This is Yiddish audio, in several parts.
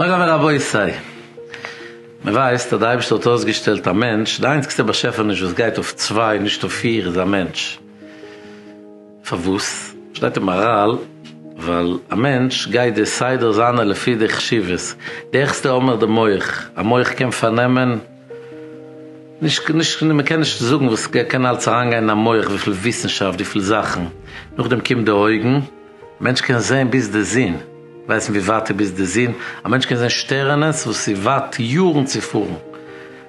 מוריי ורבותי, מען ווייסט אז די אייבערשטער האט אויסגעשטעלט א מענטש, די איינציגסטע באשעפעניש וואס גייט אויף צוויי נישט אויף פיר איז א מענטש, פארוואס? שטייט אין מאראל, ווייל א מענטש גייט די סדר זיינע לפי די חשיבות, די העכסטע האמער די מח, א מח קען פארנעמען, נישט נישט מען קען נישט זאגן וואס קען אלץ אריינגיין אין א מח וויפיל וויסנשאפט וויפיל זאכן, נאכדעם קומט די אויגן, מענטש קען זעהן ביז די זון, ווייסן ווי ווייט איז ביז די זון, א מענטש קען זעהן שטערענעס וואס איז ווייט יארן צו פארן,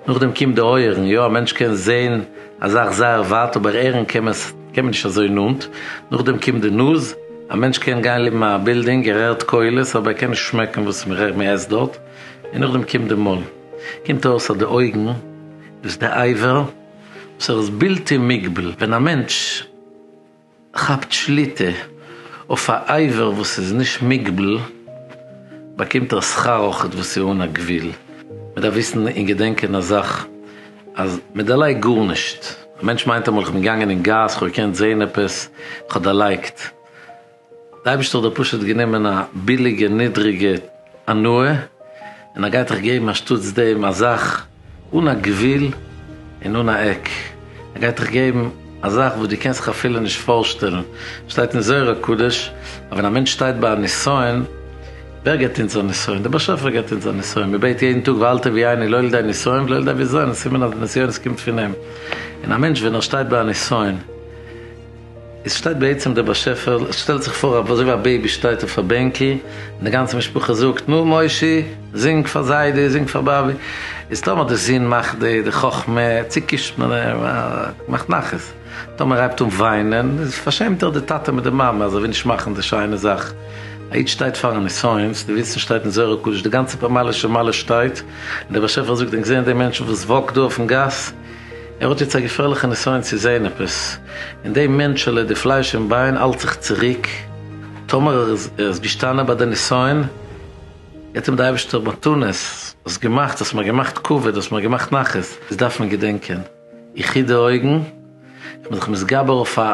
נאכדעם קומט די אויערן, יא א מענטש קען זעהן א זאך זייער ווייט אבער הערן קען מען עס קען מען נישט אזוי נאנט, נאכדעם קומט די נאז, א מענטש קען גיין לעבן א בילדינג ער הערט קולות אבער ער קען נישט שמעקן וואס מען עסט דארט, און נאכדעם קומט די מויל. קומט אויס אז די אויגן איז די עבר וואס ער איז בלתי מוגבל, ווען א מענטש כאפט שליטה אויף א עבר וואס איז נישט מוגבל, באקומט ער שכר אויך וואס איז אן א גבול, מען דארף וויסן און געדענקען א זאך, אז מען דערלייגט גארנישט, א מענטש מיינט אמאל איך בין געגאנגען אין גאס, איך האב געקענט זעהן עפעס, איך האב דערלייגט. די אייבערשטער האט דיר פשוט גענומען א ביליגע נידריגע הנאה און ער גייט דיך געבן אנשטאטס דעם א זאך אן א גבול און אן א עק, ער גייט דיך געבן א זאך וואס דו קענסט זיך אפילו נישט פארשטעלן, שטייט אין זוהר הקדוש אז ווען א מענטש שטייט ביי א נסיון, ווער געבט אונז א נסיון? דער באשעפער געבט אונז א נסיון, מען בעט יעדן טאג ואל תביא עיני לא לידי נסיון ולא לידי אביזיון, סימן אז די נסיונות קומט פון אים, און א מענטש ווען ער שטייט ביי א נסיון, עס שטייט בעצם דער באשעפער, עס שטעלט זיך פאר אזוי ווי א בעיבי שטייט אויף א בענקל, און די גאנצע משפחה זאגט, נו מושי, זינג פאר זיידי, זינג פאר באבי, איז טאמער די זון מאכט די די חכמה, צוקישט מען אים, מאכט נחת, טאמער ער הייבט אן וויינען, איז פארשעמט ער די טאטע מיט די מאמע, אזוי ווי נישט מאכן די שיינע זאך, א איד שטייט פארן ניסיון, צו די וויסן שטייט אין זוהר הקדוש, די גאנצע פאמעלע שמעלע שטייט, און דער באשעפער זאגט, ענק זעען די מענטשן וואס וואקט דא אויפן גאס, ער האט יעצט א געפערליכע נסיון צו זעהן עפעס, און די מענטשעלע, די פלייש און ביין האלט זיך צוריק, טאמער ער איז געשטאנען ביי די נסיון, האט אים די אייבערשטער מתנות, האסט געמאכט, האסט מיר געמאכט כבוד, האסט מיר געמאכט נחת, דאס דארף מען געדענקען, איך היט די אויגן, איך בין זיך מתגבר אויף א.